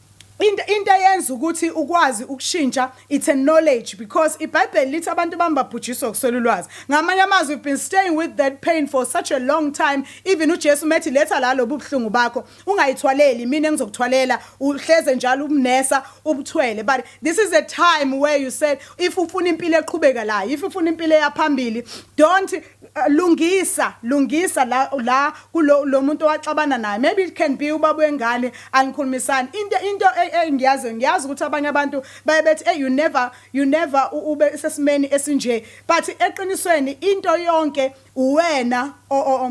Into into eyenza ukuthi ukwazi ukushintsha it's a knowledge because iBhayibheli lithi abantu bami babhujiswa ukuswela ulwazi. Ngamanye amazwi we've been staying with that pain for such a long time even uJesu methi letha la lobu buhlungu bakho ungayithwaleli mina engizokuthwalela uhleze njalo ubunesa ubuthwele but this is a time where you said if ufuna impilo eqhubeka la if ufuna impilo eyaphambili don't lungisa lungisa la la kulo lo muntu owaxabana naye maybe it can be ubaba wengane angikhulumisani into into engiyazi ngiyazi ukuthi abanye abantu baye bethi hey you never you never ube sesimeni esinje but eqinisweni into yonke uwena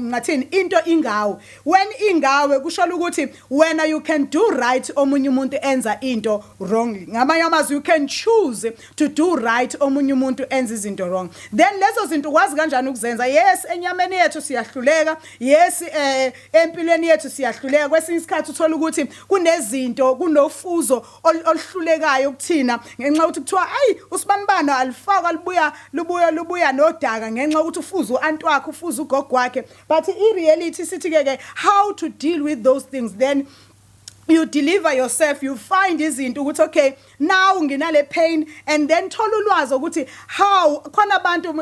ngathini into ingawe when ingawe kusho ukuthi wena you can do right omunye umuntu enza into wrong ngamanye amazwi you can choose to do right omunye umuntu enza izinto wrong then lezo zinto ukwazi kanjani ukuzenza yes enyameni yethu siyahluleka yes eh empilweni yethu siyahluleka kwesinye isikhathi uthola ukuthi kunezinto kunofuzo oluhlulekayo kuthina ngenxa ukuthi kuthiwa ayi usibanibano alifaka libuya lubuya lubuya nodaka ngenxa ukuthi ufuza uanti wakhe ufuza ugogo wakhe but i reality sithi ke ke how to deal with those things then you deliver yourself you find izinto ukuthi okay now nginale pain and then thola ulwazi ukuthi how khona abantu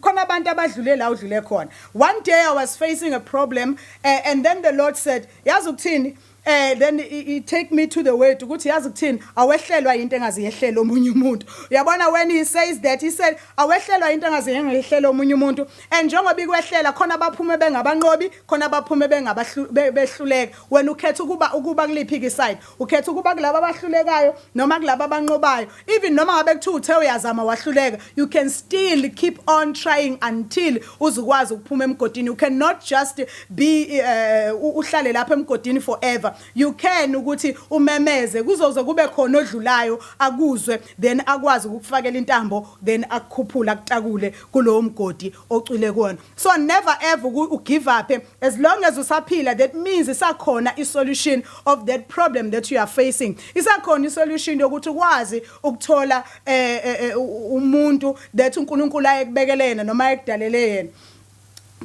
khona abantu abadlule la udlule khona one day i was facing a problem uh, and then the lord said yazi ukuthini eh then he take me to the word ukuthi yazi kuthini awehlelwa into engazi yehlela omunye umuntu uyabona when he says that he said awehlelwa into engazi yehlela omunye umuntu and njengoba ikwehlela khona abaphume bengabanqobi khona abaphume bengabahluleka wena ukhetha ukuba ukuba kuliphi ke side ukhetha ukuba kulabo abahlulekayo noma kulabo abanqobayo even noma ngabe kuthiwa uthe uyazama wahluleka you can still keep on trying until uzukwazi ukuphuma emgodini you cannot just be uh, uhlale lapha emgodini forever you can ukuthi umemeze kuzoze kube khona odlulayo akuzwe then akwazi ukufakela intambo then akukhuphula kutakule kulowo mgodi ocwile kuwona so never ever u give up as long as usaphila that means isakhona i solution of that problem that you are facing isakhona i solution yokuthi ukwazi ukuthola eh, eh, eh umuntu that uNkulunkulu ayekubekele yena noma ayekudalele yena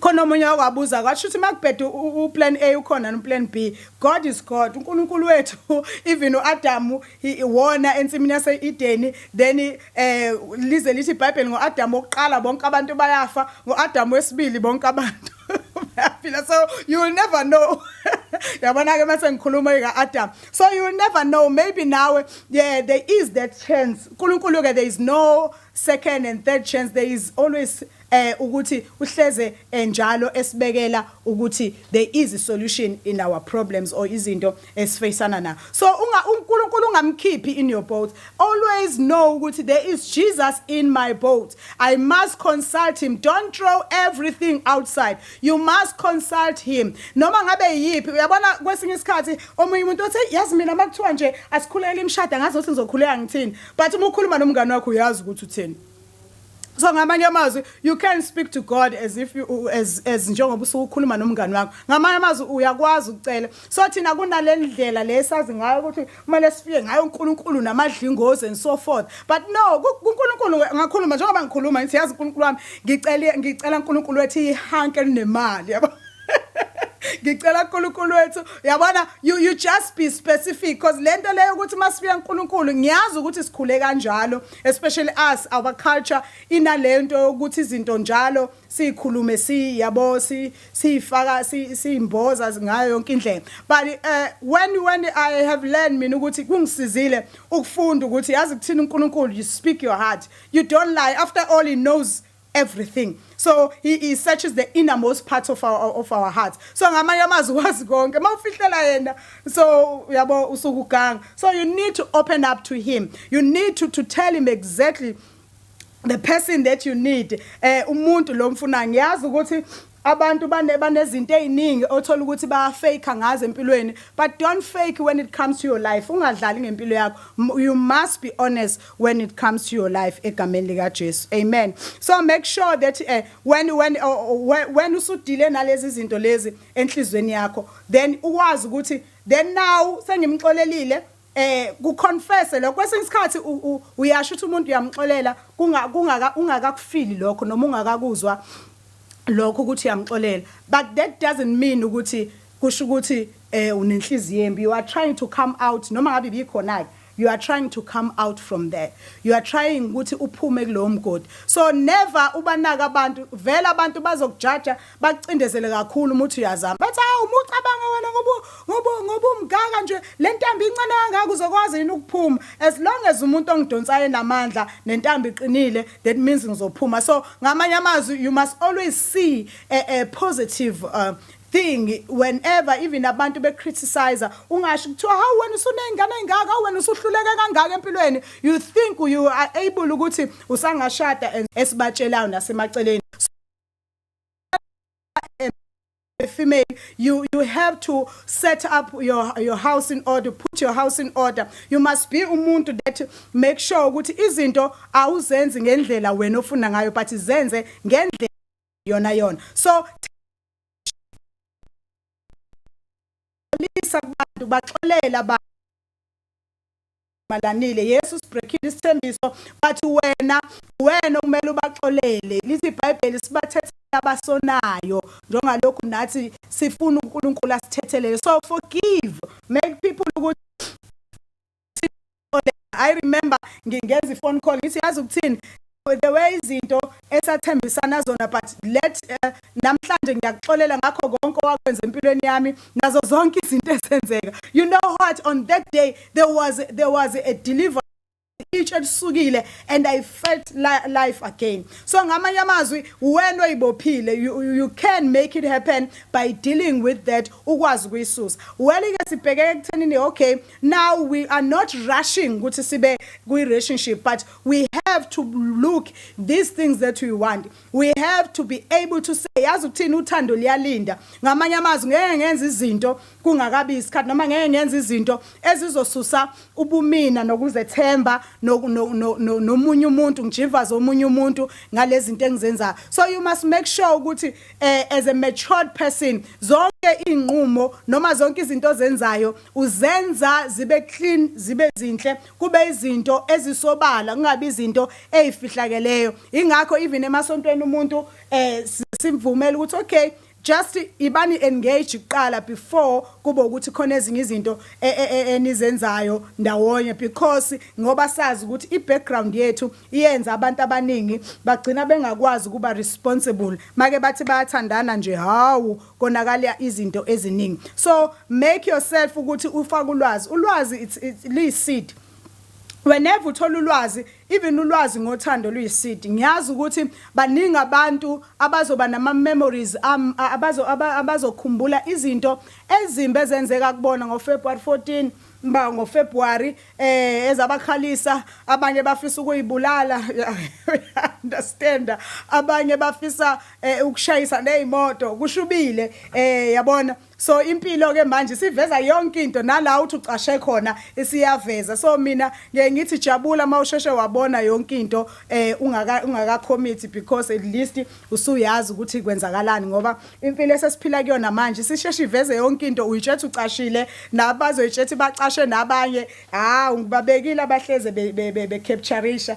khona omunye wakwabuza kwasho ukuthi makubhede uplan A ukhona noplan B God is God uNkulunkulu wethu even uAdamu iwona ensimini yase-Edeni then eh lize lithi iBhayibheli ngoAdam wokuqala bonke abantu bayafa ngoAdam wesibili bonke abantu bayaphila so you will never know yabona ke mase ngikhuluma ika Adam so you will never know maybe nawe yeah there is that chance uNkulunkulu ke there is no second and third chance there is always eh ukuthi uhleze eh, njalo esibekela ukuthi there is a solution in our problems or izinto esifacana na so unga uNkulunkulu ungamkhiphi in your boat always know ukuthi there is Jesus in my boat i must consult him don't throw everything outside you must consult him noma ngabe yipi uyabona kwesinye isikhathi omunye umuntu othi yazi mina makuthiwa nje asikhulele imshada ngazi ukuthi ngizokhuleka ngithini but uma ukhuluma nomngane wakho uyazi ukuthi uthini so ngamanye amazwi you can speak to god as if you, as, as njengoba usuke ukhuluma nomngani wakho ngamanye amazwi uyakwazi ukucela so thina kunale ndlela le sazi ngayo ukuthi kumele sifike ngayo unkulunkulu namadlingozi and so forth but no kunkulunkulu ngakhuluma njengoba ngikhuluma ngithi yazi unkulunkulu wami ngicela ngicela unkulunkulu wethu ihanke elinemali yabo ngicela uNkulunkulu wethu yabona you you just be specific because lento leyo ukuthi masifika uNkulunkulu ngiyazi ukuthi sikhule kanjalo especially us our culture inalento yokuthi izinto njalo sikhulume si yabo si sifaka simboza ngayo yonke indlela but uh, when when i have learned mina ukuthi kungisizile ukufunda ukuthi yazi kuthina uNkulunkulu you speak your heart you don't lie after all he knows everything so he, he searches the innermost parts of our, of our hearts so ngamanye amazwi wazi konke uma ufihlela yena so uyabo usuku ganga so you need to open up to him you need to, to tell him exactly the person that you need eh umuntu lo mfuna ngiyazi ukuthi Abantu bane banezinto eziningi othola ukuthi ba fake ngazo empilweni but don't fake when it comes to your life ungadlali ngempilo yakho you must be honest when it comes to your life egameni lika Jesu amen so make sure that uh, when when uh, when usudile nalezi zinto lezi enhlizweni yakho then uwazi ukuthi then now sengimxolelile eh ku confess lokho kwesinye isikhathi uyasho ukuthi umuntu uyamxolela kunga kungaka ungakakufili lokho noma ungakakuzwa lokho ukuthi uyamxolela but that doesn't mean ukuthi kusho ukuthi eh unenhliziyo embi you are trying to come out noma ngabe bikhona ke you are trying to come out from there you are trying ukuthi uphume kulowo mgodi so never ubanaka abantu vela abantu bazokujaja bakucindezele kakhulu umuthi uyazama bathi hawu uma ucabanga wena ngoba ngoba ngoba umgaka nje le ntambi incane kangaka uzokwazi yini ukuphuma as long as umuntu ongidonsayo enamandla nentambi iqinile that means ngizophuma so ngamanye amazwi you must always see a, a positive uh, thing whenever even abantu be criticize ungasho kuthiwa how wena usunengane engaka wena usuhluleke kangaka empilweni you think you are able ukuthi usangashada esibatshelayo nasemaceleni a female you you have to set up your your house in order put your house in order you must be umuntu that make sure ukuthi izinto awuzenzi ngendlela wena ofuna ngayo but zenze ngendlela yona yona so lisa kubantu baxolela abantu malanile yesu sibrekhile isithembiso bathi wena wena okumele ubaxolele lithi ibhayibheli sibathethe abasonayo njengalokhu nathi sifuna uNkulunkulu asithethelele so forgive make people ukuthi I remember ngingenza ifone call ngithi yazi ukuthini the way izinto esathembisana zona but let uh, namhlanje ngiyakuxolela ngakho konke owakwenza empilweni yami nazo zonke izinto ezenzeka you know what on that day there was there was a deliver each elisukile and i felt li life again so ngamanye amazwi wena oyibophile you, you can make it happen by dealing with that ukwazi kuyisusa well ke sibhekeke kuthenini okay now we are not rushing ukuthi sibe kwi relationship but we have to look these things that we want we have to be able to say yazi ukuthini uthando liyalinda ngamanye amazwi ngeke ngenza izinto kungakabi isikhathi noma ngeke ngenza izinto ezizosusa ubumina nokuzethemba nomunye umuntu ngijivaze omunye umuntu ngalezi zinto engizenzayo so you must make sure ukuthi eh, as a matured person zonke izinqumo noma zonke izinto ozenzayo uzenza zibe clean zibe zinhle kube izinto ezisobala kungabi izinto ezifihlakeleyo ingakho even emasontweni umuntu eh simvumela ukuthi okay just ibani engage kuqala before kube ukuthi khona ezinye izinto e, e, e, enizenzayo ndawonye because ngoba sazi ukuthi ibackground yethu iyenza abantu abaningi bagcina bengakwazi kuba responsible make bathi bayathandana nje hawu konakala izinto eziningi so make yourself ukuthi ufaka ulwazi ulwazi it's, it's liyiseed whenever uthola ulwazi even ulwazi ngothando luyisidi ngiyazi ukuthi baningi abantu abazoba nama memories um, abazo abazokhumbula izinto ezimbi ezenzeka kubona ngo February 14 ba ngo February eh ezabakhalisa abanye bafisa ukuyibulala understand abanye bafisa eh ukushayisa nezimoto kushubile eh yabona so impilo ke manje siveza yonke into nala uthi ucashe khona isiyaveza so mina ngeke ngithi jabula mawusheshe wabona yonke into eh ungaka ungaka commit because at least usuyazi ukuthi kwenzakalani ngoba impilo esesiphila kuyona manje sisheshe iveze yonke into uyitshetha ucashile nabazoyitshetha bacashe nabanye ha ngibabekile abahleze be, be, be, be captureisha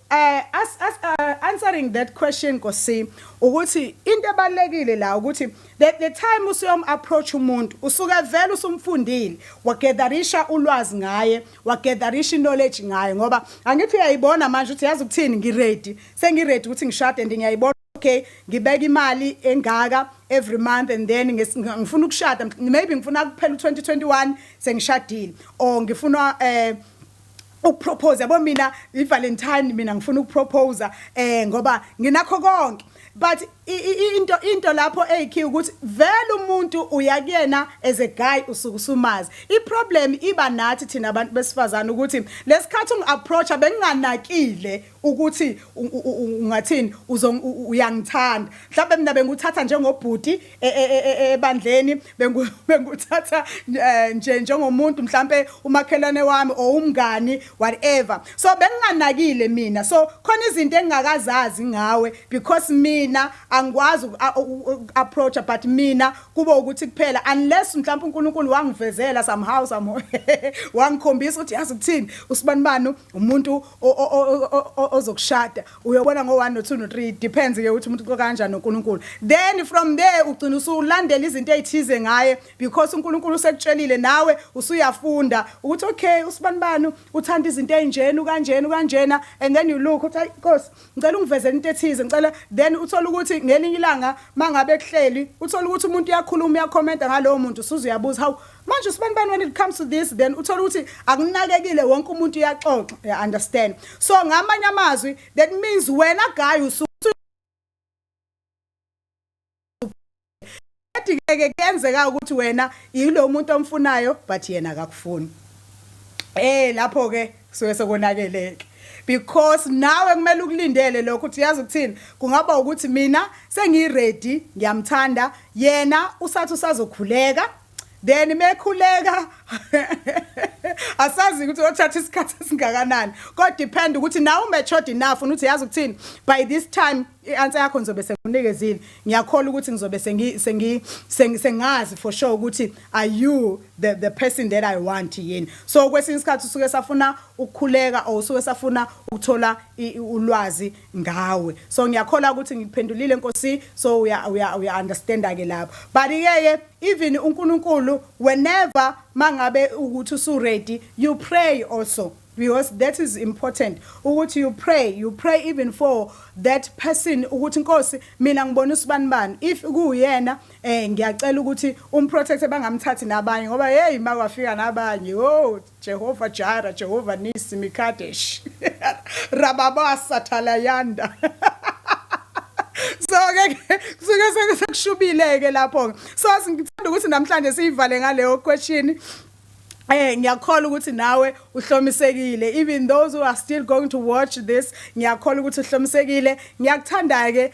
Eh as, as uh, answering that question Nkosi ukuthi into ebalekile la ukuthi the, the time usuyom approach umuntu usuke vele usumfundile wagetherisha ulwazi ngaye wagetherisha knowledge ngaye ngoba angithi uyayibona manje ukuthi yazi ukuthini ngi ready sengi ready ukuthi ngishade and ngiyayibona okay ngibeka imali engaka every month and then ngifuna ukushada maybe ngifuna kuphela u2021 sengishadile or ngifuna eh ukupropose yabo mina ivalentine mina ngifuna ukupropose eh ngoba nginakho konke but into into lapho eyikhiya ukuthi vele umuntu uya kuyena as a guy usuke usumazi iproblem iba nathi thina abantu besifazana ukuthi lesikhathi ungiapproacha benginganakile ukuthi ungathini uyangithanda mhlawumbe mina benguthatha njengobhuti e, e, e, ebandleni benguthatha eh, nje njengomuntu mhlawumbe umakhelwane wami or umngani whatever so benginganakile mina so khona izinto engingakazazi ngawe because mina angikwazi approach but mina kube ukuthi kuphela unless mhlawumbe uNkulunkulu wangivezela somehow somehow wangikhombisa ukuthi yazi ukuthini usibanibani umuntu ozokushada uyobona ngo-1 no-2 no-3 depends ke ukuthi umuntu uxoka kanjani noNkulunkulu then from there ugcina usulandela izinto ezithize ngaye because uNkulunkulu usekutshelile nawe usuyafunda ukuthi okay usibanibani uthanda izinto ezinjeni ukanjeni ukanjena and then you look uthi inkosi ngicela ungivezele into ethize ngicela then uthola ukuthi ngelinye ilanga mangabe kuhleli uthola ukuthi umuntu uyakhuluma uyakhomenta ngalowo muntu usuze uyabuza how manje usibanibani when it comes to this then uthola ukuthi akunakekile wonke umuntu uyaxoxa you understand so ngamanye amazwi that means wena guy usuthi ke kuyenzeka ukuthi wena yilo muntu omfunayo but yena akakufuni eh lapho ke kusuke sekonakeleke because nawe kumele ukulindele lokho ukuthi yazi ukuthini kungaba ukuthi mina sengiready ngiyamthanda yena usathi usazokhuleka then mekhuleka asazi ukuthi othatha isikhathi esingakanani kodwa depend ukuthi nawe umatured enough unuthi yazi ukuthini by this time i-answer yakho ngizobe sengunikezile ngiyakholwa ukuthi ngizobe sengi sengi sengazi for sure ukuthi are you the the person that i want yini so kwesinye isikhathi usuke safuna ukukhuleka or usuke safuna ukuthola ulwazi ngawe so ngiyakholwa ukuthi ngikuphendulile nkosi so uya uya uya understand ke lapho but ke Even uNkulunkulu whenever mangabe ukuthi usu ready you pray also because that is important ukuthi you pray you pray even for that person ukuthi inkosi mina ngibona usibani bani if kuyena eh ngiyacela ukuthi umprotect bangamthathi nabanye ngoba hey makwafika nabanye oh Jehova Jara, Jehova Nisi, Mikadesh, Rababa Satalayanda. so-ke kusuke sekushubile-ke lapho-ke so ngithanda ukuthi namhlanje siyivale ngaleyo question Eh ngiyakholwa ukuthi nawe uhlomisekile even those who are still going to watch this ngiyakholwa ukuthi uhlomisekile ngiyakuthanda ke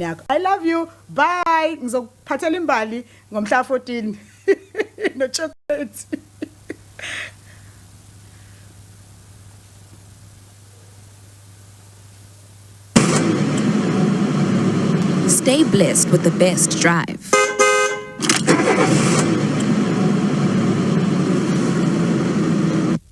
yakho i love you bye ngizokuphathela imbali ngomhla 14 no chocolate Stay blessed with the best drive.